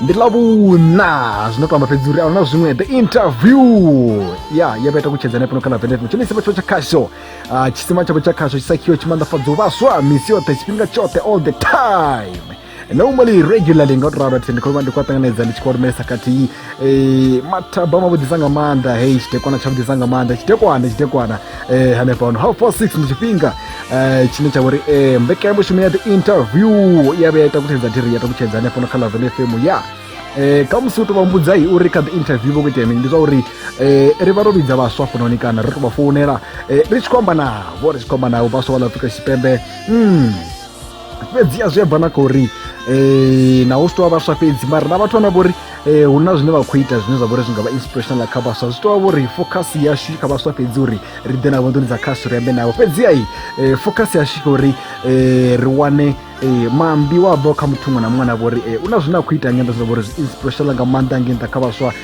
ndi lavhuna zwino to amba fhedzi uri ahuna zwiṅwe the interview ya ye vha ita kutshedzana pano kana vendet tshone tshisima tsho tsha khasho ah, tshisima tshavho tsha khasho tshisakhiwo tshimanḓafhadzo vhaswa misi yoṱhe tshifhinga tshoṱhe all the time normally regularly nga u tou ralo thi ndi khou vha ndi khou a ṱanganedza ndi tshi khou lumelesa khathihi eh, mathaba mavhuḓisa nga maanḓa hei tshitekwana tshavhuḓisa nga maanḓa tshitekwana tshitekwana eh, hanefha hano half past six ndi tshifhinga eh, tshine tsha vhori eh, mbekanyamushumo ya the interview ya vhuya ita kutshedza thiri ya takutshedza hanefho no kha lavene fm ya eh, kha musi u to vha mbudzai uri kha the interview vho khou itea mini ndi zwa uri eh, ri vha ro vhidza vhaswa fononi kana ri to vha founela eh, ri tshi khou amba navho ri tshi khou amba navho vhaswa vha ḽa afrika tshipembe mm. fhedzi a zwi a bva na kha uri um naho zwi tou vha vhaswa fhedzi mara na vhathu vhana vho uri eh, hu na zwine vha khou ita zwine zwa vha uri zwi nga vha inspirational kha vhaswa zwi tou vha vhori focus yashu kha vhaswa fhedzi uri ri ḓe navho nḓuni dza khasi ri ambe navho fhedzi ai eh, focus yashu kha uri eh, ri wane eh, mambi wa bvaho kha muthu muṅwe na muṅwe na vhori eh, u na zwine a khou ita nga nda zwa vhori zwi inspirational nga maanḓa ngei nṱha kha vhaswa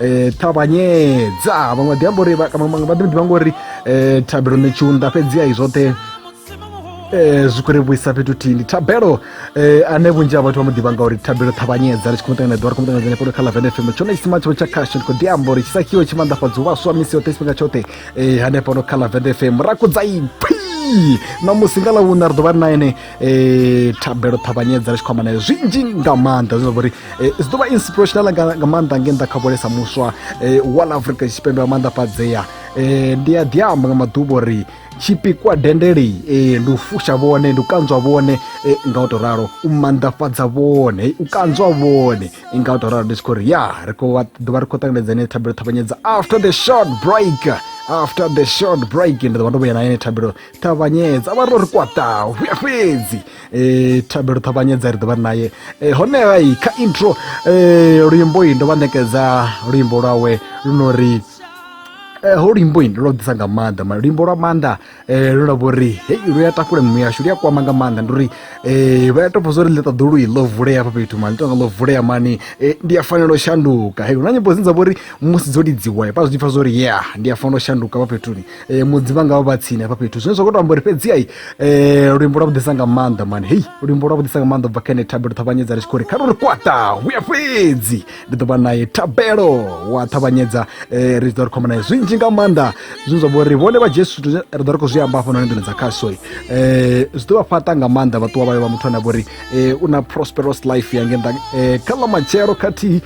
um ṱavhanyedza vhaṅwe ḓi amba uri vha ḓo ḓivha ngori um thabelo ni tshiunda fhedzi ai zwoṱhe um zwi khou ri vhuisa fhethu thihi ndi thabelo um ane vhunzhi ha vhathu vha mu ḓivha ngauri thabelo ṱhavhanyedza ri tshi khou muṱangana ḓuvha ri khou muṱangana henefho kha lavene fm tshone tshisima tshavho tsha khasho ndi khou ḓi amba uri tshisakhiwo tshi manḓafhadza vhaswa misi yoṱhe tshifhinga tshoṱhe um hanefho no kha lavene fm ra kudza iphi na musi nga ḽa vhuna ri ḓo vha ri na ene um thabelo ṱhavhanyedza ri tshi khou amba naye zwinzhi nga maanḓa zwine zwa vha uri e, zwi ḓo vha inspirational nga, nga maanḓa nge nda kha vholesa muswa e, wa la afrika tshipembe wa maanḓafhadzea e, ndi a ḓiamba nga maḓuvha uri tshipikwa dendeli e, ndi u fusha vhone ndi u kanzwa vhone e, nga u to ralo u manḓafhadza vhone e, u kanzwa vhone e, nga u to ralo ndi tshi khou ri ya ri khou vha- ḓo vha ri khou ṱanganedza ine thabelo ṱhavhanyedza after the short break after the short break ndi ḓo vha ndo vhuya na ine thabelo ṱavhanyedza vha ro ri kwataho vhuya fhedzi um thabelo ṱavhanyedza ri ḓovha ri naye um honeha i kha intro um luimbo i ndo vha ṋekedza luimbo lwawe lu no ri Eh, ho luimbo ini lwo ḓisa nga maanḓa ma luimbo lwa maanḓa eh, lu na vhori hei lu ya takule mimu yashu lu ya kwama nga maanḓa ndi uri eh, vha ya topa zwa uri ḽi ṱaḓulu i ḽo vulea hafha fhethu mani tonga ḽo vulea mani ndi a fanela u shanduka hei hu na nyimbo dzine dza vhori musi dzo lidziwa vha zwi pfa zwa uri ya ndi a fanela u shanduka hafha fhethuni eh, mudzi vha ngavha vha tsini hafha fhethu zwine zwa khou to amba uri fhedzi ai eh, luimbo lwa vhuḓisa nga maanḓa mani hei luimbo lwa vhuḓisa nga maanḓa ubva kha ene thabelo ṱhavhanyedza ri tshi khou ri kha ri ri kwata huya fhedzi ndi ḓo vha naye thabelo wa ṱhavhanyedza eh, ri ḓo ri khomba naye zwinzhi nga maanḓa zwine zwa vha uri vhone vha jesu zwithu zwe- ri ḓo ri khou zwi amba hafha noni nḓuni dza khasoi eh, zwi ḓo vha fhaṱa nga maanḓa vhaṱuwa vhayo vha muthu ane a vha uri eh, u na prosperous life yange nda eh, kha ḽa matshelo khathihi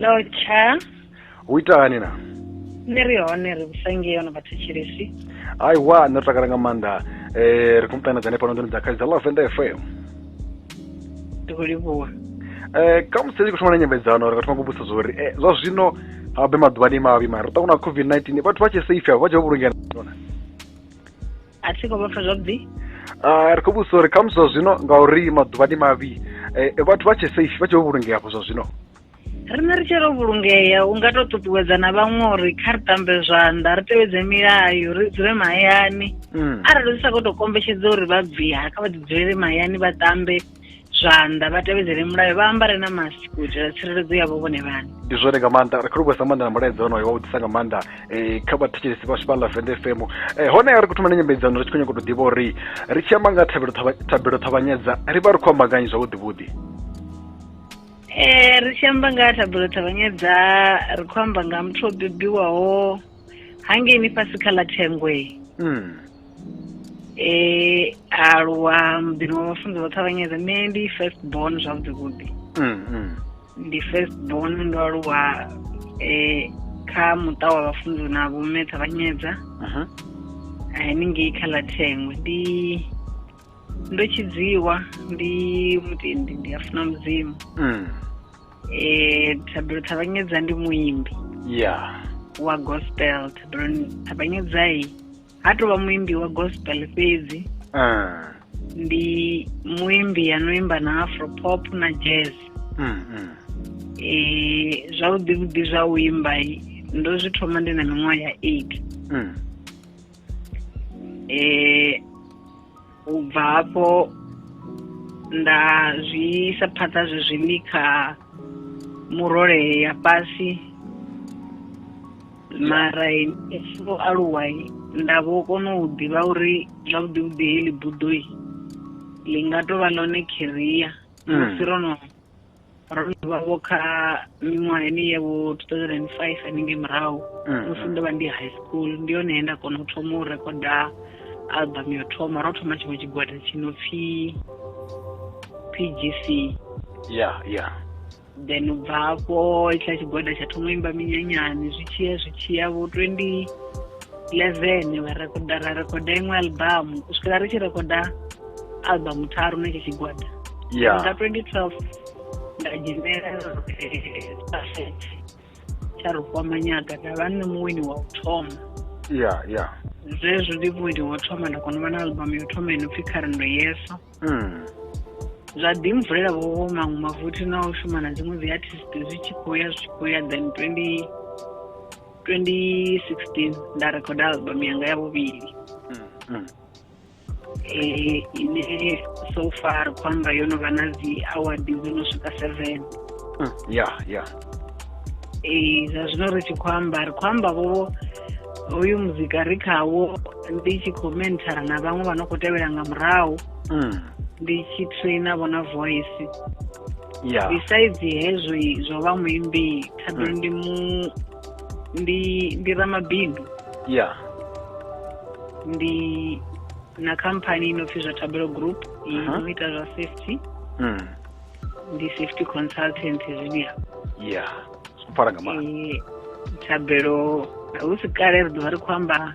no tsha hu ita hani na nṋe ri hone ri vhusangi yo no vhathetshelesi ai wa nṋe ri takala nga maanḓa um ri khou muṱanedzane fhano nḓoni dza khaidza lavenda f m ndi khou livhuwa um ka musi ri khou thoma na nyambedzano ri nga thoma kubusa zwa uri eh, zwa zwino habe maḓuvhani mavhi mara ri ṱangana covid-19 vhathu vha tshe safe avho vha tshe vho vhulungea a thi khou vha pfa zwavhuḓi ri khou vhudzisa uri khamusi zwa zwino ngauri maḓuvha ndi mavhi eh, vhathu vha tshe safe vha tshe vho vhulungea afho zwa zwino riṋe ri tshi ro vhulungea u nga tou ṱuṱuwedza na vhaṅwe uri kha ri tambe zwanḓa ri tevhedze milayo ri dzule mahayani mm. arali zwi sa khou tou kombetshedza uri vha bviha kha vha ḓi dzulele mahayani vha tambe zwanḓa vha tevhedzele mulayo vha ambare na mask u itela tsireledzo yavho vhone vhane ndi zwone nga maanḓa ri khou livhuwesa maanḓa na mulaedza wonoyo wa u ḓisa nga maanḓa um kha vhathetshelesi vhashu vha lavenda fm um eh, hone ri khou thoma na nyambedzano ri tshi khou nyanga u tou ḓivha uri ri tshi amba nga thabelo ṱhavhanyedza ri vha ri khou amba nganyi zwavhuḓivhuḓi um ri tshi amba nga thabelo ṱhavhanyedza ri khou amba nga muthu o bebiwaho hangeini fhasi kha ḽa thengwe mm. e aluwa muḓini wa vhafunzi vho ṱhavhanyedza nṋe ndi first born zwavhuḓi vhuḓi mm, mm. ndi first born ndo aluwa um kha muṱa wa vhafunzi na vhomme ṱhavhanyedza mhm. haningei kha ḽa thengwe ndi ndo tshidziwa ndi mutendi ndi a funa mudzimu mm. eh thabelo ṱhavhanyedza ndi muimbi ya wa gospel thabelo ṱhavhanyedza i ha tovha muimbi wa gospel fhedzi uh. ndi muimbi ano imba na afro pop na jazz mm, mm. E, zwavhuḓi vhuḓi zwa u imba ndo zwi thoma ndi na miṅwaha ya eight mm. e, u bva hafho nda zwi isa phanḓa zwezwini kha murole ya fhasi mara tshi vho aluwa nda vho kona u ḓivha uri zwavhuḓi vhuḓi heḽi buḓoi ḽi nga tovha ḽone kheriya musi mm. ro no ro no vha vho kha miṅwahani ya vho two thousand and five haningei murahu mm, musi mm. ndo vha ndi high school ndi yone he nda kona u thoma u rekoda album yo thoma ro thoma tshiṅwe tshigwada tshi no pfi p g c ya ya then u bva hafho itshiḽa tshigwada tsha thoma imba minyanyani zwi tshiya zwi tshiya vho twenty eleven vha rekoda ra rekoda iṅwe album u swikela ri tshi rekoda album tharu na tshe tshigwada yeah. nga 2012 nda dzhenela eh, tsha ri kwama nyaga nda vha nṋe muwini wa u thoma ya ya zwezwo ndi muwini wa u thoma nda kona u vha na album yo thoma ino pfhi kha rendo yeso hmm. zwa ḓi mvulela vhowo maṅwe mavuthi na u shuma na dziṅwe dzi artist zwi tshi khou ya zwi tshi khou ya then 20 2016 nda record album yanga ya vhuvhili hmm, hmm. eh, ine so far ri khou amba yo no vha na dzi award dzo no swika seven hmm, ya ya ee eh, zwa zwino ri tshi khou amba ri khou amba vhovo hoyu muzika ri khawo ndi tshi khou menthara na vhaṅwe vha no khou tevhela nga murahu hmm. ndi tshi traina vho na voice besides hezwi zwo vha muimbi thado mm. ndi mu ndi ndi ramabindu ya ndi na khamphani ino pfi zwa tabelo group ino Aha. ita zwa safety Mm. ndi safety consultant zwiya ya zwo pfala nga maanḓa Eh, thabelo hu si kale ri ḓovha ri khou amba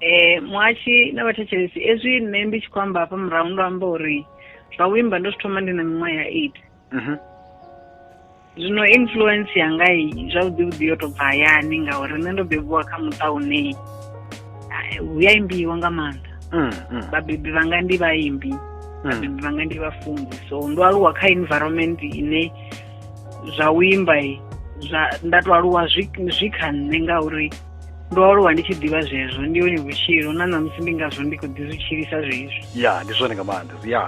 Eh muhashi na vhathetshelesi ezwi nṋe ndi tshi khou amba hafha murahu ndo amba uri zwa u imba ndo zwi thoma ndi na miṅwaha ya eight mhm. zwino influence yanga i zwavhuḓi vhuḓi yo to bva hayani ngauri nṋe ndo bebiwa kha muṱa une hu ya imbiwa nga maanḓa mm, mm. vhabebi vhanga ndi vhaimbi mm. vhabebi vhanga ndi vhafunzi so ndo aluwa kha environment ine zwa u imba zwa nda to aluwa zwi kha nṋe ngauri ndo aluwa ndi tshi ḓivha zwezwo ndi yone vhutshilo na ṋamusi ndi ngazwo ndi khou ḓi zwi tshilisa zwezwi ya ndi zwone nga maanḓa ya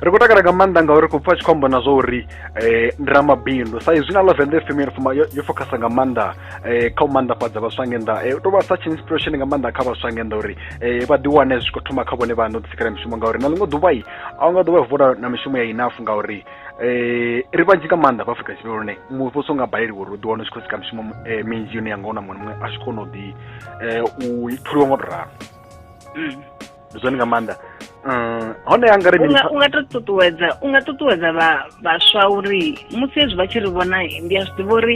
ri khou takala nga maanḓa ngauri khou pfa tshi khou amba na zwa uri um ndi ramabindu sa izwi na lavende fm yo focusa nga maanḓa um kha u maanḓafhadza vhaswa nge nnḓa um tou vha such inspiration nga maanḓa kha vhaswa nge nnḓa uri um vha ḓi wane zwi khou thoma kha vhone vhaṋe u ḓisikela mishumo ngauri na ḽiṅwe ḓuvha i a u nga ḓuvha vula na mishumo ya inafu ngauri eh ri vhanzhi nga maanḓa vha Afrika Tshipembe lune muvhuso nga baleliwa uri u ḓiwana u tshi khou sika mishumo eh, minzhi yone ya nga ona muṅwe muṅwe a tshi kona u ḓi eh, u tholiwa nga u tou ralo mm. ndi zwone nga maanḓa um hone anga ri mini unga to ṱuṱuwedza unga ṱuṱuwedza vha vhaswa uri musi hezwi vha tshi ri vhona ndi a zwi ḓivha uri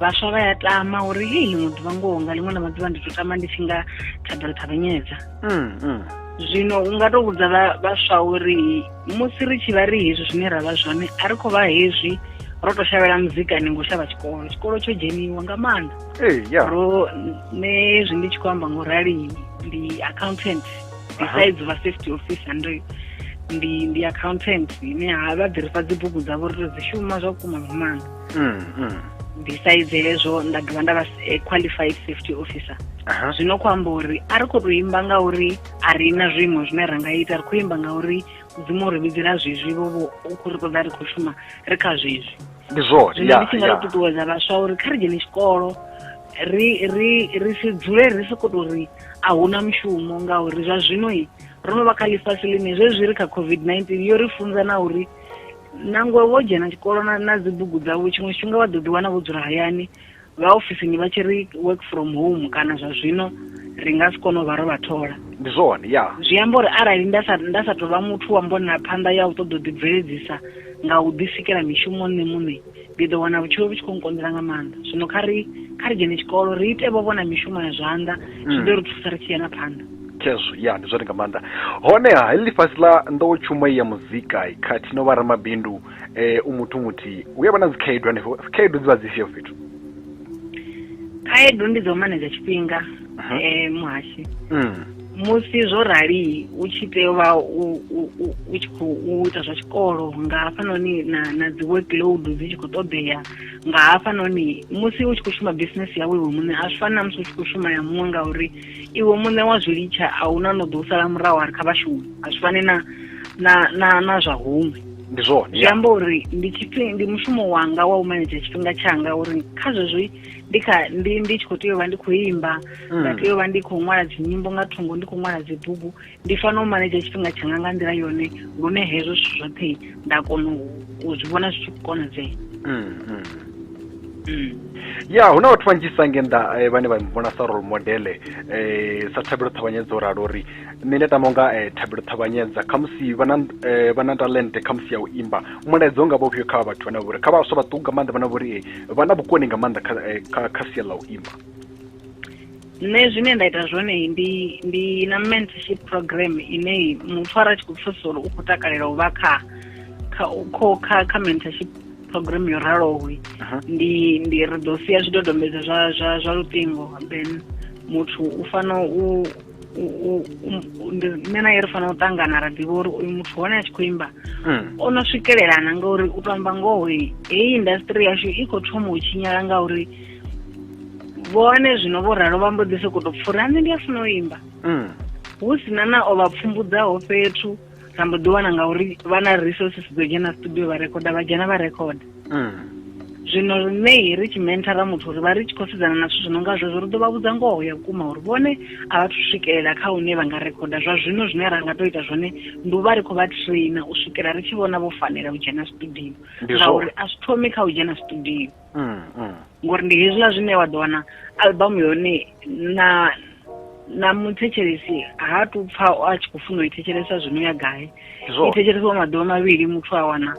vhaswa vha ya tama uri hei ḽiṅwe ḓuvha ngoho nga ḽiṅwe ḽa maḓuvha ndi to tama ndi tshi nga thabelo ṱhavhanyedza mm, mm. zwino unga to vhudza vhaswa uri musi ri tshi vha ri hezwi zwine ra vha zwone a ri khou vha hezwi ro to shavhela muzika ni ngo shavha tshikolo tshikolo tsho dzheniwa nga maanḓa ee ya ro nṋe hezwi ndi tshi khou amba ngo rali ndi accountant besides vha safety officer ndo ndi ndi accountant ine ha vha ḓirifha dzi bugu dzavho ri to dzi shuma zwa vhukuma nga maanḓa mm, mm. besides hezwo nda dovha nda vha eh, qualified safety officer zwino khou amba uri a ri khou to imba nga uri a ri na zwiimo zwine ra nga ita ri khou imba ngauri mudzimu ri vhidzela zwezwi vho vho u khou ri ṱoḓa ri khou shuma ri kha zwezwi ndi zwone zwino ndi tshi nga ri ṱuṱuwedza vhaswa uri kha ri dzhene tshikolo ri ri ri si dzule ri soko to ri a huna mushumo ngauri zwa zwino i ro no vha kha ḽifhasi ḽine zwezwi ri kha covid-19 yo ri funza na uri nangwe wo dzhena tshikolo na, na dzibugu dzavho tshiṅwe tshifhinga vha ḓo ḓiwana vho dzula hayani vha ofisini vha tshi ri work from home kana zwa zwino ri nga si kone u vha ro vha thola ndi zwone ya zwi amba uri arali nda sa nda sa tou vha muthu wa mbonela phanḓa ya u ṱoḓa u ḓibveledzisa nga u ḓisikela mishumo nṋe muṋe ndi ḓo wana vhutshilo vhu tshi khou nkonḓela nga maanḓa zwino kha ri kha ri dzhene tshikolo ri ite vho vhona mishumo ya zwanḓa zwi ḓo ri thusa ri tshi ya na phanḓa khezwo ya ndi zwone nga maanḓa honeha heḽi fhasi ḽa nḓowetshumo ya muzika khathihi no vha ramabindu eh u muthu muthihi hu ya vha na dzikhaedu hanefho khaedu dzi vha dzi fhio fhethu khaedu ndi dzo manedza tshifhinga um eh, muhashi mm. musi zwo rali u tshi tea u vha u tshi khou ita zwa tshikolo nga hafhanoni na na dzi workload dzi tshi khou ṱoḓea nga hafhanoni musi u tshi khou shuma business yawe iwe muṋe a zwi fani na musi u tshi khou shuma ya muṅwe ngauri iwe muṋe wa zwi litsha a hu na no ḓo u sala murahu a ri kha vhashumi a zwi fani na na na na zwa huṅwe ndi zwone zwi amba uri ndi tshifhinga ndi mushumo wanga wa u manedzha tshifhinga tshanga uri kha zwezwo ndi kha ndi ndi tshi khou tea u vha ndi khou imba nda mm. tea u vha ndi khou ṅwala dzinyimbo nga thungo ndi khou ṅwala dzibugu ndi fanela u manedzha tshifhinga tshanga nga nḓila yone lune hezwo zwithu zwoṱhe nda kona u zwi vhona zwi tshi khou konadzea mm, mm. mm. ya hu na vhathu vhanzhisa nge nnḓa eh, vhane vha vhona sa role modele um eh, sa thabelo ṱhavhanyedza o ralo uri nṋe ndi tama unga um eh, thabelo ṱhavhanyedza khamusi vha na talente khamusi ya u imba mulaedza u nga vha ufhio kha vhathu vhane vha vhori kha vhaswa vhaṱuku nga maanḓa vhana vhori vha na vhukoni nga maanḓa kha sia ḽa u imba Nṋe zwine nda ita zwone ndi ndi na mentorship program ine muthu ara tshi khou pfesesa uri u khou takalela u vha kha kha kha kha mentorship program yo raloho ndi ndi ri ḓo sia zwidodombedzwa zwa zwa zwa luṱingo then muthu u fana u nṋe na ye ri fanela u ṱangana ra ḓivha uri uyu muthu hone a tshi khou imba hmm. o no swikelelana ngauri u to amba ngoho heyi industry yashu i khou thoma u tshinyala ngauri vhone zwino vho ralo vha mbo ḓi sokou tou pfura nṋe ndi a funa u imba mm. hu sina na o vha pfumbudzaho fhethu ra mbo ḓi wana ngauri vha na resources dzo dzhena studio vha rekhoda vha dzhena vha rekhoda mm. zwino riṋei ri tshi menthara muthu uri vha ri tshi khou sedzana na zwithu zwi no nga zwezwo ri ḓo vha vhudza ngoho ya vhukuma uri vhone a vha thu swikelela kha hune vha nga rekhoda zwa zwino zwine ra nga tou ita zwone ndi u vha ri khou vha traina u swikela ri tshi vhona vho fanela u dzhena studio ngauri a zwi thomi kha u dzhena studio Mm, mm. ngori ndi hezwiḽa zwine wa ḓo wana album yone na na muthetshelesi ha tu pfa a tshi khou funa u i thetshelesa zwino ya gai i thetshelesiwa maḓuvha mavhili muthu a wana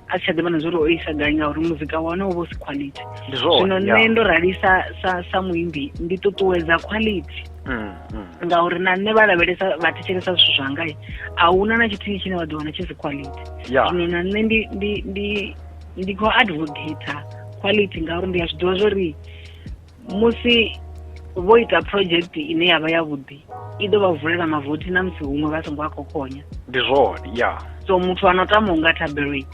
a si tsha ḓivha na zwa uri o isa gai ngauri muzika wa hone u vha u si quality zwino nṋe ndo rali sa sa sa muimbi ndi ṱuṱuwedza quality mm, mm. ngauri na nṋe vha lavhelesa vha thetshelesa zwithu zwangai a huna na tshithihi tshine vha ḓo wana tshi si quality zwino na nṋe ndi ndi ndi ndi khou advocate quality ngauri ndi a zwi ḓivha zwo ri musi vho ita project ine ya vha yavhuḓi i ḓo vha vulela mavothi na musi huṅwe vha songo a khokhonya ndi zwone ya so muthu ano tama u nga thabeloi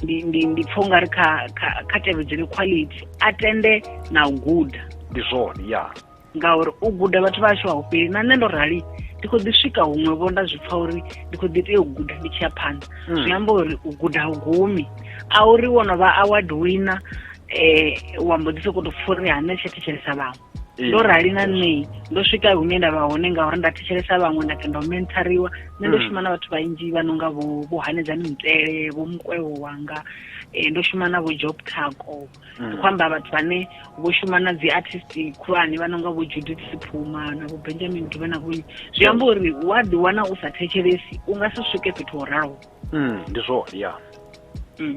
ndi ndi ndi pfha ungari kha kha kha tevhedzele quality a tende na u guda ndi zwone ya ngauri u guda vhathu vha hashu a hu fheli na nṋe ndo rali ndi khou ḓi swika huṅwe vho nda zwi pfa uri ndi khou ḓi tea u guda ndi tshi ya phanḓa hmm. zwi amba uri u guda hu gumi a uri wo no vha award winner um wa mbo ḓi sokou to pfa uri ha nṋe tsha thetshelesa vhaṅwe eh, ndo rali na nṋe ndo swika hune nda vha hone ngauri nda thetshelesa vhaṅwe nda kenda u menthariwa nṋe ndo hmm. shuma na vhathu vhanzhi vha no nga vho hanedzani mutele vho mukwevho wanga um ndo shuma na vho job taco ndi khou amba vhathu vhane vho shuma na dzi artist khulwane vha nonga vho judith siphuma na vho benjamin dube na vhonyi zwi amba uri wa ḓi wana u sa thetshelesi u nga si swike fhethu ho raloho Mm, ndi zwone ya Mm.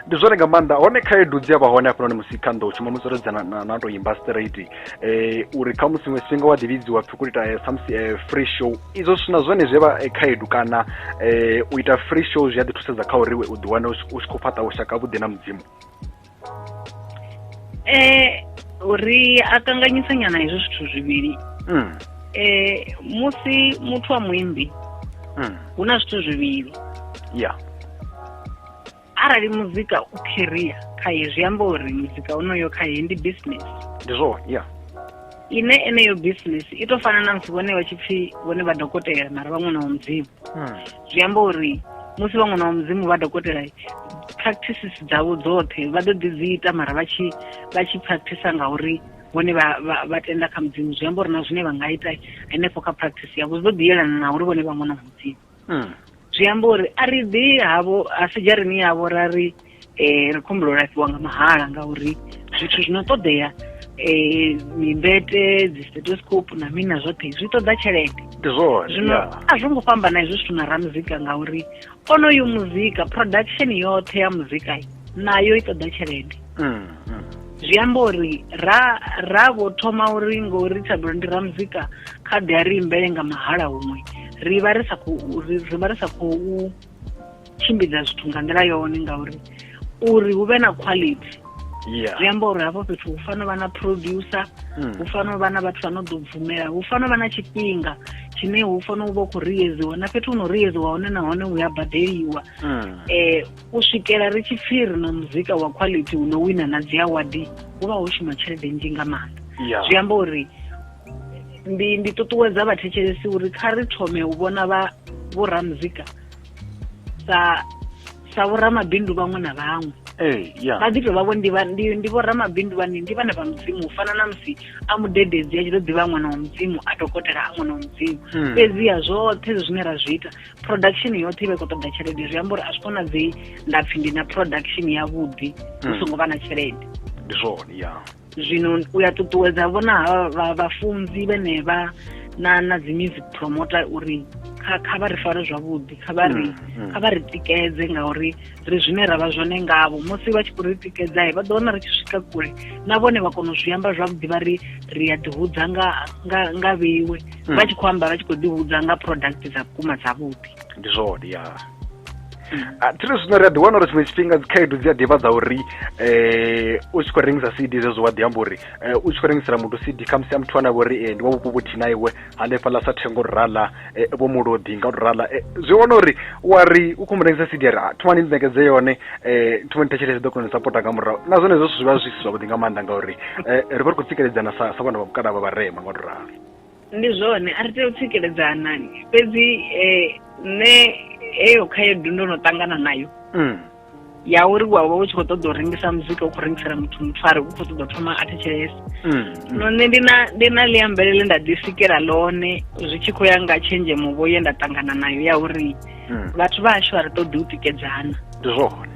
ndi zwone nga maanḓa hone khaedu dzi a vha hone hafhanoni musi kha nḓou shuma musi ro dza na- na na to imba straight eh uri kha musi iṅwe tshifhinga wa ḓivhidziwa pfi u khou ita eh, samusi eh, free show izwo zwithu na zwone zwi a vha eh, khaedu kana eh u ita free show zwi a ḓi thusedza kha uri iwe u ḓiwane u tshi u tshi khou fhaṱa vhushaka vhuḓi na mudzimu eh uri a kanganyisa nyana hezwo zwithu zwivhili mm. eh musi muthu wa muimbi mm. hu na zwithu zwivhili ya arali muzika u career khaye zwi amba uri muzika unoyo khaye ndi business ndi zwo ya ine eneyo business i to fana na musi vhone vha tshi pfi vhone vha dokotela mara vha ṅwana wa mudzimu hmm. zwi amba uri musi vha ṅwana wa mudzimu vha dokotela practices dzavho dzoṱhe vha ḓo ḓi dzi ita mara vha tshi vha tshi practice ngauri vhone vha tenda kha mudzimu zwi amba uri na zwine vha nga ita henefho kha practice yavho zwi ḓo ḓi yelana na uri vhone vha ṅwana wa mudzimu hmm. zwi amba uri a ri ḓi havho a si dzharini yavho ra ri um ri khou humbela u lafhiwa nga mahala ngauri zwithu zwi no ṱoḓea um mimbete dzi stethoscope na mini na zwoṱhe zwi ṱoḓa tshelede ndi zwone zwino a zwo ngo fhambana hezwi zwithu na ramuzika ngauri onoyu muzika production yoṱhe ya muzika nayo i ṱoḓa tshelede mm, mm. zwi amba uri ra ra vho thoma uri ngori thabelo ndi ramuzika kha ḓi a ri imbele nga mahala huṅwe ri vha ri sa khou ri vha ri sa khou tshimbidza zwithu nga nḓila yone ngauri uri hu vhe na quality zwi amba uri hafho fhethu hu fanela vha na producer hmm. hu fanela vha na vhathu vha no ḓo bvumela hu fanela vha na tshifhinga tshine hu fanela u vha u khou riyedziwa na fhethu hu no riyedziwa hone nahone hu ya badeliwa um u swikela ri tshi pfhi ri na muzika wa quality hu no wina na dzi awadi hu vha ho shuma tshelede nnzhi nga maanḓa zwi amba uri ndi ndi ṱuṱuwedza vhathetshelesi uri kha ri thome u vhona vha vhoramuzika sa sa vhoramabindu vhaṅwe na vhaṅwe ee ya vha ḓi tovha vho ndi vha- ndi- ndi vhoramabindu vhane ndi vhane vha mudzimu u fana na musi a mudededzi a tshi ḓo ḓivha ṅwana wa mudzimu a dokotela a ṅwana wa mudzimu Mm. fhedziha zwoṱhe zwi zwine ra zwi ita production yoṱhe i vha i khou ṱoda tshelede zwi amba uri a zwi konadzei nda pfhi ndi na production yavhuḓi hu Mm. songo vha na tshelede ndi zwone ya zwino u ya ṱuṱuwedza vhona ha vhafunzi vhenevha na na dzi music promoter uri kha kha vha ri fare zwavhuḓi kha vha ri mm, mm. kha vha ri tikedze ngauri ri zwine ra vha zwone ngavho musi vha tshi khou ri tikedzae vha ḓo wana ri tshi swika kule na vhone vha kona u zwi amba zwavhuḓi vha ri ri a ḓihudza nga nga nga vheiwe mm. vha tshi khou amba vha tshi khou ḓihudza nga product dza vhukuma dzavhuḓi ndi zwone ya Ah, thiri zwino ri a ḓiwana uri tshiṅwe tshifhinga dzikhaedu dzi a ḓivha dza uri um u tshi khou rengisa cd zwezwo wa ḓi amba uri eh, u tshi khou rengisela muthu cd khamusi a muthu ane a vha uri eh, ndi wa vhupo vhuthihi na iwe hanefhaḽa sa thengo rala eh, vho mulodi nga rala eh, zwi wana uri wa ri u khou mu rengisa cd a ri "Ah, thomani ni ṋekedze yone um thomani thetshelese ḓo kona u sapota nga murahu na zwone hezwo zwithu zwi vha zwi si zwavhuḓi nga maanḓa ngauri eh, ri vha ri khou tsikeledzana sa sa vhana vha vhukala vha vharema nga u ralo Ndi zwone a ri tei u tsikeledza Hanani, fhedzi nṋe heyo khaedu ndo no ṱangana nayo mm. ya uri wa vha u tshi khou ṱoḓa u rengisa muzika u khou rengisela muthu muthu a ri u khou ṱoḓa u thoma a thetshelesa mm, mm. no nṋe ndi na ndi na ḽi ambelele nda ḓi sikela ḽone zwi tshi khou ya nga tshenzhemo vho ye nda ṱangana nayo ya uri vhathu vha hashu a ri ṱoḓi u tikedzana ndi zwone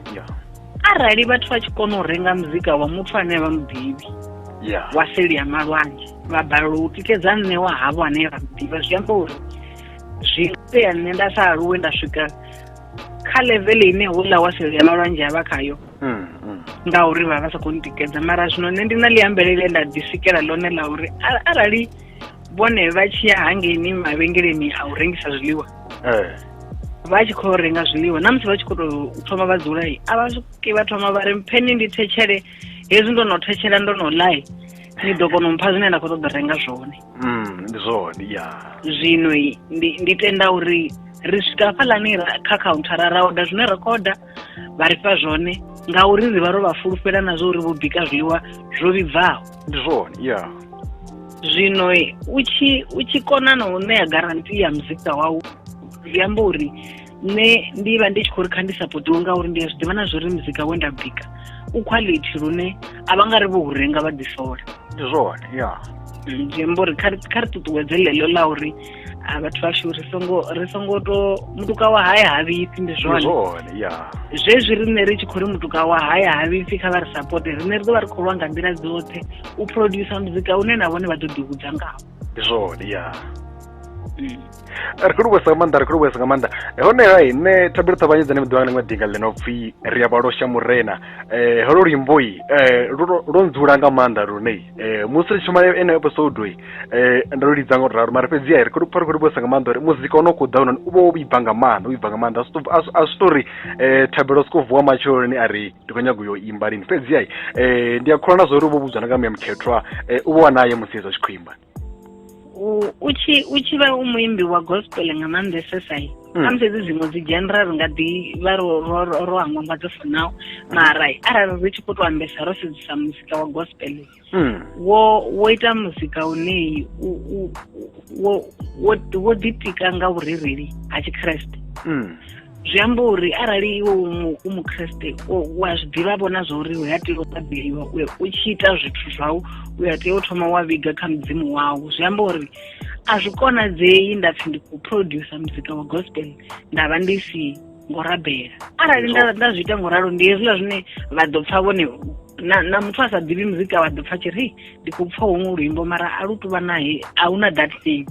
arali vhathu vha tshi kona u renga muzika wa muthu ane vha muḓivhi wa seli ya malwanzhe vha balelwa u tikedza nṋe wa havho ane ra ḓivha zwi amba uri zwi itea nṋe nda sa aluwe nda swika kha level ine houḽa wa seli ya malwanzhe a vha khayo mm, mm. ngauri vha vha sa khou ntikedza mara zwino nṋe ndi na liambelele nda ḓisikela ḽone ḽa uri arali vhone vha tshi ya hangeini mavhengeleni a u rengisa zwiḽiwa eh. vha tshi khou renga zwiḽiwa na musi vha tshi khou tou thoma vha dzulai a vha swiki vha thoma vha ri mpheni ndi thetshele hezwi ndo no thetshela ndo no ḽai ni ḓo kona u mpha zwine nda khou ṱoḓa renga zwone mm, ndi zwone ya zwino ndi, ndi tenda uri ri swika hafhaḽani kha khauntara ra oda zwine ra khou oda vha ri fha zwone ngauri ri vha ro vha fulufhela na zwo uri vho bika zwiḽiwa zwo vhibvaho ndi zwone ya zwino u tshi u tshi kona na u ṋea garanti ya muzika wau zwi amba uri nṋe ndi vha ndi tshi khou ri kha ndi sapotiwe ngauri ndi a zwi ḓivha na zwo ri muzika we nda bika u quality lune a vha nga ri vho u renga vha ḓisola ndi zwone ya zwi amba uri kha ri ṱuṱuwedze ḽeḽo ḽa uri a vhathu vhashu ri songo ri songo to mutuka wa haya ha vhipfi ndi zwone zwezwi riṋe ri tshi khou ri mutuka wa haya ha vhipfi kha vha ri sapote riṋe ri ḓo vha ri khou lwa nga nḓila dzoṱhe u producer muzika une na vhone vha ḓo ḓihudza ngawo ndi zwone ya mm. ri khou livhuwesa nga maanḓa ri khou livhuwesa nga maanḓa honeha hi nṋe thabelo ṱhavhanye dzane mi ḓiwana ḽiṅwe dinga ḽi no pfhi ri a vhalosha murena um holo luimboi um lwo ndzula nga maanḓa lune um musi ri tshuma ene episode um ndo lu lidza nga u ralo mara fhedzi a ri khou pfa ri khou livhuwesa nga maanḓa uri muzika o no khou ḓa hone u vha wo vhibva nga maanḓa u vhibva nga maanḓa a zwi tori um thabelo soko vuwa matsheloni a ri ndi khou nyaga u yo imba lini fhedzi ai um ndi a kholwa na zwa uri u vho vhudzwa na nga muya mukhethwa um u vha wa naye musi hezwo a tshi khou imba u tshi u tshi vha u muimbi wa gospel nga maanḓesesa i hmm. khamusi hedzi dziṅwe dzi genre ri nga ḓi vha ro ro hangwa nga dzo funaho mara arali ri tshi khou tou ambesa ro sedzisa muzika wa gospel hmm. wo wo ita muzika une wo wo ḓitika nga vhurereli ha tshikreste hmm. zwi amba uri arali iwe u mukreste wa zwi ḓivha vhona zwa uri u ya tea u ṱaḓeliwa u tshi ita zwithu zwau u ya tea u thoma wa vhiga kha mudzimu wau zwi amba uri a zwi konadzei nda pfhi ndi khou producer muzika wa gospel nda vha ndi si ngo rabela arali nda nda zwi ita ngo ralo ndi hezwiḽa zwine vha ḓo pfha vhone na na muthu a sa ḓivhi muzika wa ḓo pfha tshi ri ndi khou pfha huṅwe luimbo mara a lu tuvha nae a hu na that thing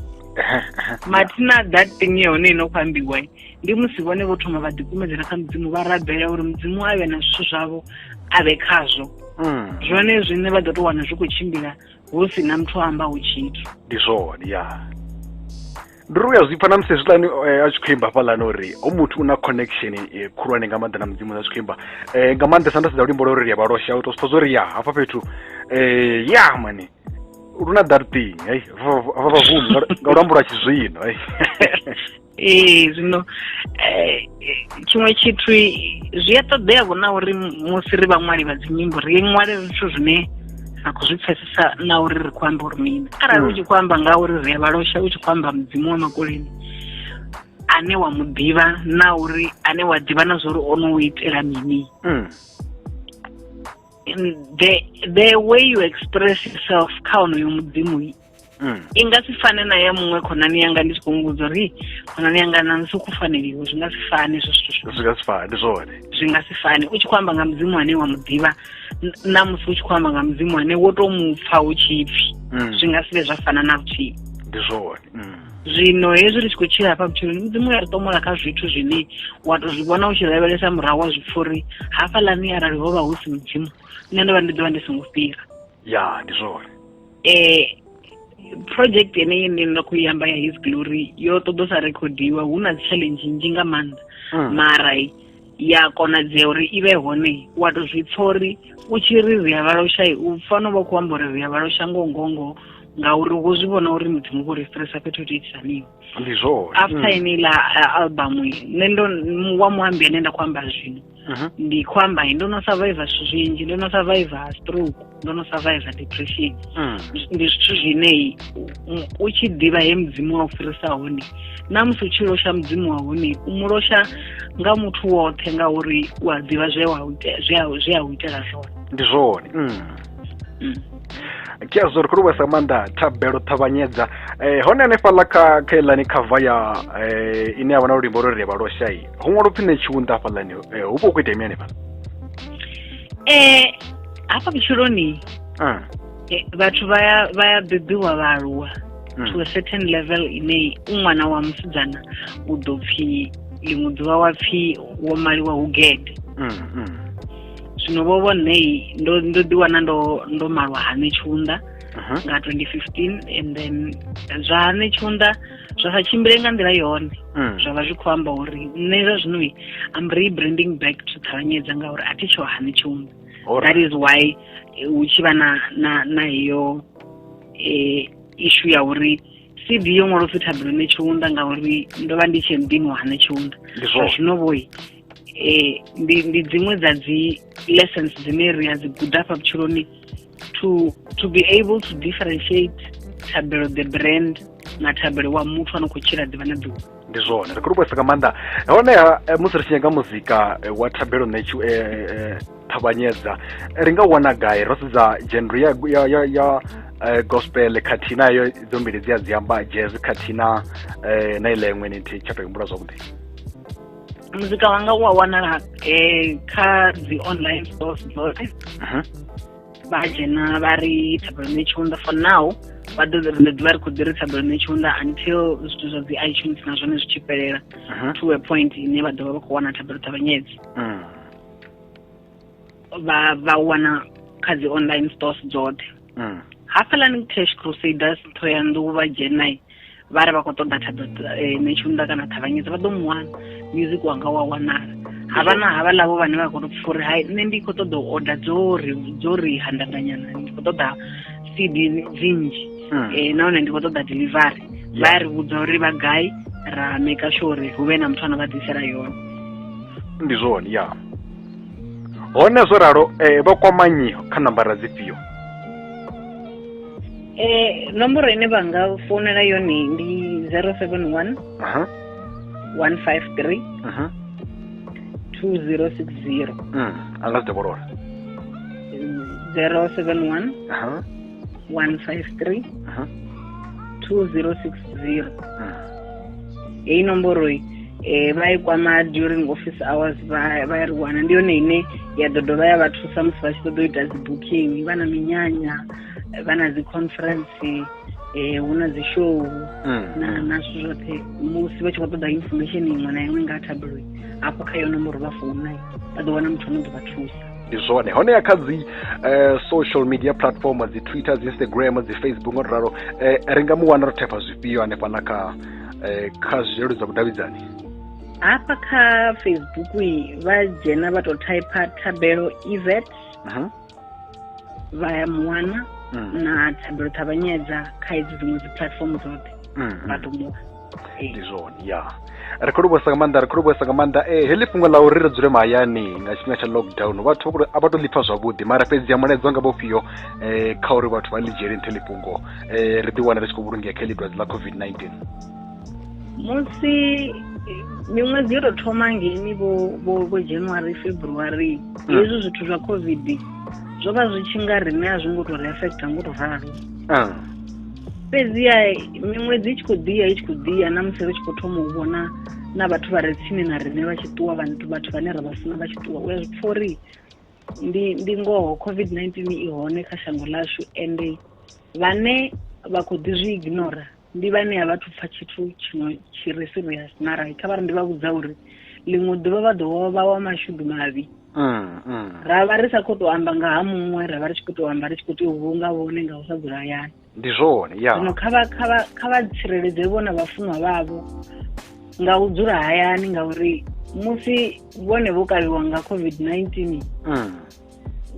mathina that thing ya hone ino khou ambiwa ndi musi vhone vho thoma vha ḓikumedzela kha mudzimu vha rabela uri mudzimu a vhe na zwithu zwavho a vhe khazwo mm. zwone zwine vha ḓo tou wana zwi khou tshimbila hu si na muthu a ambaho tshithu ndi zwone ya ndi ri u ya zwi pfa na musi hezwiḽani eh, a tshi khou imba hafhaḽani uri ho muthu u na connection eh, khulwane nga maanḓa na mudzimu a tshi khou imba eh, nga maanḓesa nda sedza luimbo lwa uri ya vhalosha u to sipfa zwo ri ya hafha fhethu ya mani luna that thing hei vavavunu nga luambo lwa tshizwino hei ee zwino um tshiṅwe tshithu zwi a ṱoḓea vho na uri musi ri vhaṅwali vha dzinyimbo ri ṅwale zwithu zwine ra khou zwi pfesesa na uri ri khou amba uri mini arali u tshi khou amba nga uri ri a vhalosha u tshi khou amba mudzimu wa makoleni ane wa mu ḓivha na uri ane wa ḓivha na zwa uri o no u itela mini mm. the, the way you express yourself kha onoyo mudzimu mm. i nga si fane na ya muṅwe khonani yanga ndi tshi khou muvhudza uri khonani yanga na musi ku faneliwe zwi nga si fane zwo zwithu zwi nga si fane zwone zwi nga si fane u tshi khou amba nga mudzimu ane wa mu ḓivha na musi u tshi khou amba nga mudzimu ane wo tou mu pfa hu tshi pfi mm. zwi nga si vhe zwa fana na vhuthihi ndi zwone mm. zwino hezwi ri tshi khou tshila hafha vhutshiloni mudzimu ya ri tomola kha zwithu zwine wa to zwi vhona u tshi lavhelesa murahu wa zwi pfha uri hafhaḽani arali ho vha hu si mudzimu nṋe ndo vha ndi ḓo vha ndi songo fhira ya ndi zwone eh project yeneyi ine nda khou i amba ya his glory yo ṱoḓo sa rekhodiwa hu na challenge nzhi nga maanḓa mm. mara ya konadzea uri i vhe hone wa to zwi pfa uri u tshi ri ri a vhaloshayi u fanela vha khou amba uri ri a vhalosha ngongongo ngauri wo zwi vhona uri muthu mukho ri stressa fhethu hu tiitisaniwa ndi zwone after mm. ine iḽa album nṋe ndo wa muambi ane nda khou amba zwino mhm. ndi khou amba ndo no survivor zwithu zwinzhi ndo no survivor stroke ndo no survivor depression mm. ndi zwithu zwine u tshi ḓivha he mudzimu wa u fhirisa hone na musi u tshi losha mudzimu wa hone u mu losha nga muthu woṱhe ngauri u a ḓivha zwe a u itela zwone ndi zwone mm. mm. kia zwo ri khou luvhesa maanḓa thabelo ṱhavhanyedza um hone hanefhaḽa kha kha iḽani khava ya um ine ya vha na lulimbo lwo ri vha loshayi ho ṅwala upfhi nṋe tshiunḓa hafhaḽani hu vha hu khou itea mini hanefhala um hafha vhutshiloni vhathu vha ya vha ya bebiwa vha aluwa hmm. to a certain level ine u ṅwana wa musidzana u ḓo pfhi ḽiṅwe ḓuvha wa pfhi wo maliwa hu gede hmm, hmm. zwino vho vho nṋe ndo ndo ḓi wana ndo ndo malwa hane tshiunḓa uh-huh. nga 2015 and then zwa hane tshiunḓa zwa sa tshimbile nga nḓila yone mm. zwa vha zwi khou amba uri nṋe zwa zwino am rebranding back to ṱhavhanyedza ngauri a thi tsho hani tshomu that is why eh, hu tshi vha na na na iyo um eh, ishu ya uri cv yo ṅwalo pfi thabulone tshiunda ngauri ndo vha ndi tshee muḓini wa hane tshiunda zwa zwino vhoi um ndi dziṅwe dza dzi lessons dzine ri a dzi guda fha vhutshiloni to to be able to differentiate thabelo the brand na thabelo wa muthu ano khou tshila ḓuvha na ḓuvha ndi zwone ri khou lukwesa nga maanḓa honeha eh, musi ri tshi nyanga muzika eh, wa thabelo na tshi eh, ṱhavhanyedza ri nga wana gai ro sedza genre ya ya ya, ya uh, gospel khathihi na yo idzo mbili dzi a dzi amba jazz khathihi na uh, na ileṅwe ni thi tsha tou humbula zwavhuḓi muzika wanga u a wanala um kha dzi online stores dzoṱhe vha dzhena vha ri thabelone tshiunda for now vha ḓo ri ḓivha ri khou ḓi ri thabelone tshiunda until zwithu zwa dzi itunes na zwone zwi tshi fhelela to a point ine vha ḓovha vha khou wana thabelo ṱavhanyedzi mm. vha vha wana kha dzi online stores dzoṱhe mm. hafhalani cash crusaders thoyandou vha dzhenai vha re vha khou ṱoḓa thaḓo eh, netshiunda kana ṱhavhanyedza vha ḓo mu wana music wanga wa wanala ha vha na havha ḽavho vhane vha khou tou pfha uri hai nṋe ndi khou ṱoḓa u oda dzo ri dzo ri handanganyana ndi khou ṱoḓa cd dzinzhi hmm. eh, nahone ndi khou ṱoḓa delivery vha ya ri vhudza uri vha gai ra maker sure uri hu vhe na muthu ana vha ḓisela yone ndi zwone ya hone zwo ralo um vha kwamanyio kha nambara dzifhio Eh, nomboro ine vha nga founela yone ndi 071 aha 153 mhm 2060 mm anga zidobolola 071 aha 153 aha 2060 mm heyi nomboro iyi eh, vha i kwama during office hours vha vha ri wana ndi yone ine ya ḓo dovha ya vha thusa musi vha tshi ṱoḓa u ita dzi booking vha na minyanya vha na dzi conference eh hu na dzi show mm. na na zwithu zwoṱhe musi vha tshi khou ṱoḓa information iṅwe na iṅwe nga ha tabloid hafho kha yo nomboro vha founa vha ḓo wana muthu ano ḓo vha thusa ndi zwone honeha kha dzi eh, social media platform dzi twitter dzi instagram dzi facebook nga ralo eh, ri nga mu wana ro thepha zwifhio hanefha na kha eh, kha zwilelu dza vhudavhidzani hafha kha facebook vha dzhena vha tou typer thabelo event uh -huh. vha ya muwana mm. na thabelo ṱhavhanyedza kha hedzi dziṅwe dzi platform dzoṱhe mm, mm. vha ḓo muwana ndi zwone ya ri khou livhuwesa nga maanḓa ri khou livhuwesa nga maanḓa e heḽi fhungo ḽa uri ri dzule mahayani nga tshifhinga tsha lockdown vhathu vha kule a vha to ḽipfa zwavhuḓi mara fhedzi ya mulaedzwa nga vhofhio um kha uri vhathu vha ḽi dzhiele nṱhe ḽi fhungo um ri ḓi wana ri tshi khou vhulungea kha heḽi dwadze ḽa covid-19 musi miṅwedzi yo tou thoma ngeni vho vho vho january february hmm. hezwi zwithu zwa covid zwo vha zwi tshi nga riṋe a zwi ngo tou ri affecta ngo tou ralo ah. fhedziha miṅwedzi i tshi khou ḓiya i tshi khou ḓiya na musi ri tshi khou thoma u vhona na vhathu vha re tsini na riṋe vha tshi ṱuwa vhathu vhathu vhane ra vha funa vha tshi ṱuwa u ya zwi pfa uri ndi ndi ngoho covid-19 i hone kha shango lashu ende vhane vha khou ḓi zwi ignora Ndi vha ṋea vhathu pfa tshithu tshino tshi re serious na rai kha vha ri ndi vha vhudza uri ḽiṅwe ḓuvha vha ḓo vha wa mashudu mavhi mm, mm. ra vha ri sa khou tou amba nga ha muṅwe ra vha ri tshi khou tou amba ri tshi khou tea u vhulunga vhone nga u sa dzula hayani ndi zwone ya zwino kha vha kha vha kha vha tsireledze vhona vhafunwa vhavho nga u dzula hayani ngauri musi vhone vho kavhiwa nga covid-19 mm.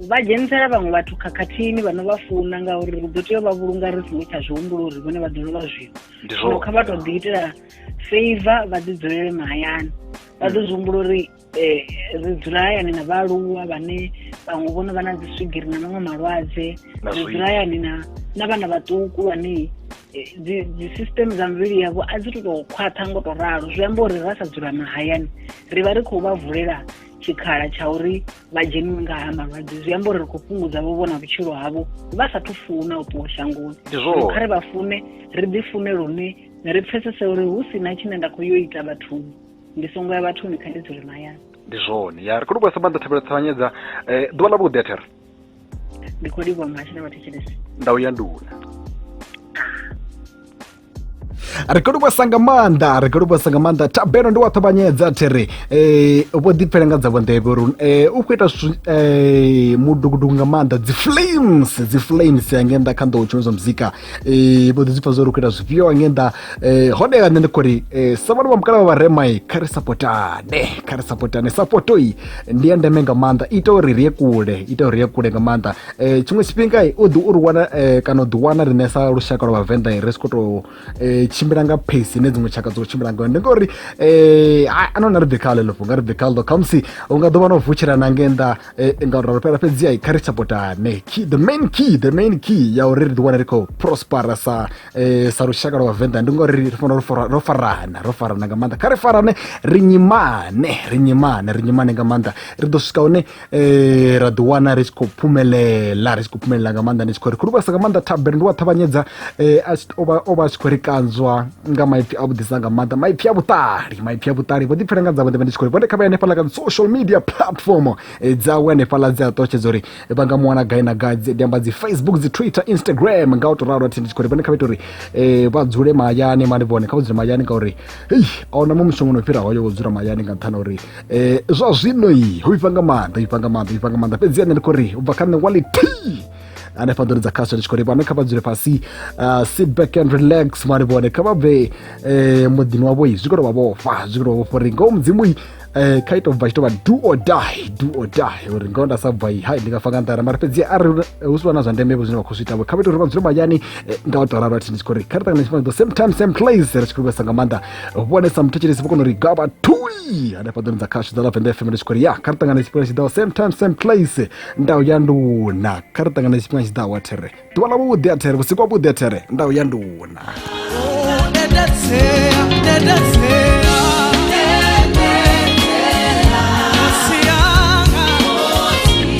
vha dzhenisela vhaṅwe vhathu khakhathini vha no vha funa ngauri ri ḓo tea u vha vhulunga ri songo tsha zwi humbula uri vhone vha ḓo lovha zwino zwino kha vha tou ḓi itela favor vha ḓi dzulele mahayani vha ḓo zwi humbula uri eh, ri dzula hayani na vhaaluwa vhane vhaṅwe vhono vha na dzi swigiri na maṅwe malwadze ri dzula hayani na na vhana vhaṱuku vhane eh, dzi system dza mivhili yavho a dzi to tou khwaṱha ngo tou ralo zwi amba uri ra sa dzula mahayani ri vha ri khou vha vulela tshikhala tsha uri vha dzheniwe nga ha malwadze zwi amba uri ri khou fhungudza vho vhona vhutshilo havho vha sathu funa u ṱuwa shangoni kha ri vha fune ri ḓi fune lune ri pfesese uri hu si na tshine nda khou yo ita vhathuni ndi songo ya vhathuni kha ndi dzule mahayani ndi zwone ya ri khou livhuwa sa maanḓa thabelo ṱavhanyedza eh, ḓuvha ḽa vhuḓi a thera ndi khou livhuwa mashina vhathetshelesi ndau ya nduna ri khou livhuwesa nga maanḓa ri khou livhuwesa nga maanḓa thabelo ndi wa ṱhavhanyedza thi ri um vho ḓipfela nga dza vhonḓevhe uri um u khou ita zwithu um mudukuduku nga maanḓa dzi flames dzi flames ya nge nnḓa kha nḓowo tshumedzwa muzika um vho ḓi dzi pfa zwo ri khou ita zwifhio nge nnḓa um hone nṋe ndi khou ri um sa vhana vha mukala vha vharemai kha ri sapotane kha ri sapotane sapotoi ndi ya ndeme nga maanḓa ita uri ri ye kule ita uri ri ye kule nga maanḓa um tshiṅwe tshifhinga u ḓi u ri wana um kana u ḓi wana riṋe sa lushaka lwa vhavenḓa ri si khou tou um tshimbila nga pace ine dziṅwe tshaka dzo tshimbila ngayo ndi ngauri um anona ri ḓi kha ḽeḽo fhunga ri ḓi kha ḽo khamusi u nga ḓo vha na u vutshela na nge nnḓa um nga uri fhela fhedzi ai kha ri sapotane key the main key the main key ya uri ri ḓi wana ri khou prospera sa um sa lushaka lwa vhavenḓa ndi ngauri ri fanela ro farana ro farana nga maanḓa kha ri farane ri nyimane ri nyimane ri nyimane nga maanḓa ri ḓo swika hune eh ra ḓi wana ri tshi khou phumelela ri tshi khou phumelela nga maanḓa ndi tshi khou ri khulubasa nga maanḓa thabere ndi wa ṱhavhanyedza eh, o vha a tshi khou ri kanzwa nga maipfi a vhuḓisa nga maanḓa maipfi a vhuṱali maipfi a vhuṱali vho ḓipfela nga dzavho ndi vha ndi tshi khou ri vhone kha vha hanefhaḽa kha social media platform eh, dzawe hanefhaḽa dzi a ṱotshedza uri eh, vha nga mu wana gai na gai ndi amba dzi facebook dzi twitter instagram nga u to ralo athi ndi tshi khou ri vhone kha vha ita uri vha dzule mahayani mani vhone kha vha dzule mahayani ngauri hei a huna muṅwe mushongo no fhira hoyo wo dzula mahayani nga nṱhani uri um zwa zwino i ho vhifha nga maanḓa vhifha nga maanḓa vhifha nga maanḓa fhedzi ane ndi khou ri u bva kha nṋe wali t hanefha nḓuni dza khasho ndi tshi khou ri vhane kha vha dzule fhasi uh, sit back and relax mali vhone kha vha bve eh, muḓini wavho zwi khou tou vha vhofha zwi khou tou vha vhofha uri ngoho mudzimu eh kha ito bva tshi tovha do or die do or die uri ngoho nda sa bva i hai ndi nga fa nga nḓara mara fhedzi a ri hu si vhana zwa ndeme vho zwine vha khou zwi itavho kha vha ito uri vha dzule mahayani eh, nga u tou ralo athi ndi tshi khou ri kha ri ṱangana tshifhinga the same time same place ri tshi khou vhesa nga maanḓa vhonesa muthetshelesi vho kona uri gaba thui hanefha ḓoni dza khashu dza lavenda fm nditshi khori ya kha ri ṱangane tshifhinga tshi ḓaho same time same place ndau ya nduna kha ri ṱangane tshifhinga tshi ḓaho athere ḓuvha ḽa vhuḓi athere vhusiku wa vhuḓi athere ndau ya nduna